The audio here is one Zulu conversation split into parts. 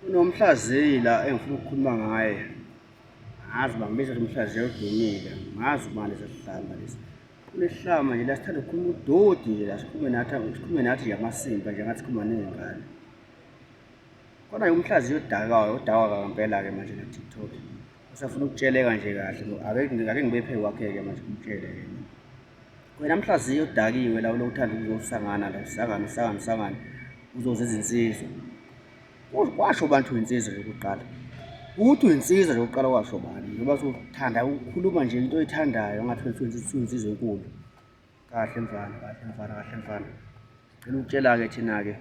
Kunomhlaziyi la engifuna ukukhuluma ngaye ngazi uba ngibiza umhlaziyi odumile ngazi ubani sesihlamba lesi kunehlama nje la sithanda ukukhuluma udodi nje la sikhulume nathi sikhulume nathi nje amasimba nje ngathi sikhuluma ney'ngane kodwa-ke umhlaziyi odakayo odakwa ngempela-ke manje na-tiktok usafuna ukutsheleka nje kahle ngo ake ngake ngibe phe kwakhe ke manje kumtshele yena wena mhlaziyo udakiwe la ulokuthanda ukuzosangana la usangana usangana usangana uzoze izinsizwa kwasho abantu insizwa yokuqala ukuthi insizwa yokuqala kwasho bani ngoba sothanda ukukhuluma nje into oyithandayo ngathi wethu insizwa enkulu kahle mfana kahle mfana kahle mfana cela ukutshela ke thina ke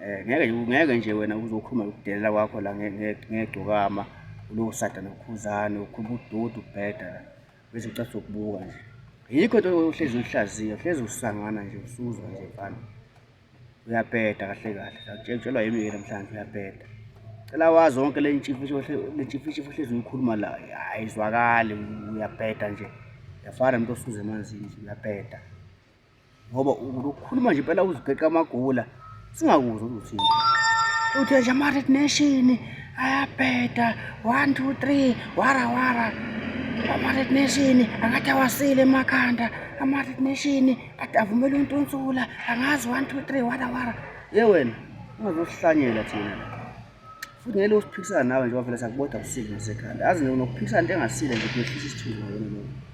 Eh, ngeke ngeke nje wena uzokhuluma ukudelela kwakho la ngegcokama uloku sada nokhuzane ukhuluma ududu ubheda la bese ucathi ukubuka nje yikho into ohlezi uyihlaziya uhlezi usangana nje usuzwa nje mfana uyabheda kahle kahle akutshelwa yimi ke namhlanje uyabheda cela wazi wonke le ntshifishi le ntshifishi uhlezi uyikhuluma la ayizwakali uyabheda nje yafana umuntu osuze emanzini uyabheda ngoba ukhuluma nje impela uzigeqa amagula singakuzwa ukuthi uthi nje ama-red nation ayabheda one two three wara wara ama-red nation angathi awasile emakhanda ama-red nation kade avumela untunsula angazi one two three wara wara ye wena ungazosihlanyela thina futhi ngeke usiphikisana nawe njengoba vele sakuboda usile nasekhanda azi nokuphikisana into engasile nje kuyehlisa isithunzi wena lokho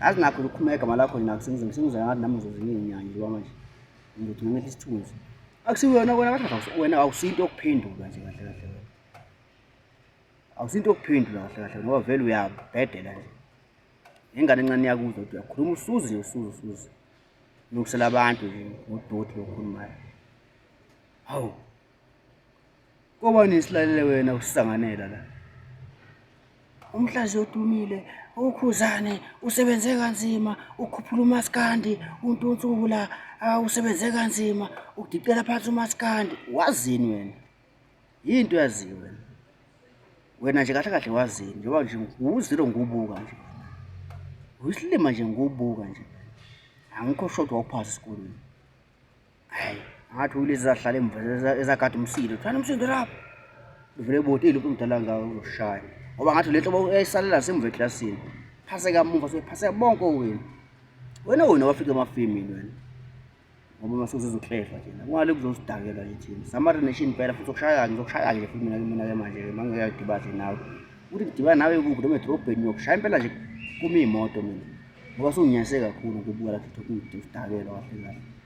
azi nakho lokukhuma egama lakho nina kusengize ngisengiza ngathi nami ngizozinginyanya njengoba manje ngizothi ngimehle isithunzi akusiwena kona kahle wena awusinto yokuphendula nje kahle kahle wena awusinto yokuphendula kahle kahle ngoba vele uyabhedela nje ingane encane yakuzwa ukuthi uyakhuluma usuzi nje usuzi usuzi nokusela abantu nje ngodoti lokhulumayo hawu Koba nesilalele wena usisanganela la. Umhlazi odumile ukhuzane usebenze kanzima ukhuphula umaskandi untunsula usebenze kanzima ukudicela phansi umaskandi wazini wena yinto yaziyo wena wena nje kahle kahle wazini njengoba nje nguzilo ngubuka nje uyisilima nje ngubuka nje angikho shodwa uphasi esikolweni ngathi ulezi zahlala emva ezagada umsindo thana umsindo lapho ivele eboti iluphi umdala ngawo uzoshaya ngoba ngathi le nto eyayisalela semva eklasini phase kamumva sephase bonke owenu wena wena wafika emafimini wena ngoba mase uzozohlehla thina kungale kuzosidakelwa nje thina samari nation phela futhi okushaya kanje okushaya kanje futhi mina mina ke manje ke mangeke yadibadle nawe uthi ngidibana nawe kuphi noma edrobheni yokushaya impela nje kumi imoto mina ngoba sunginyase kakhulu ngokubuka lapho ukuthi udakelwa kahle kahle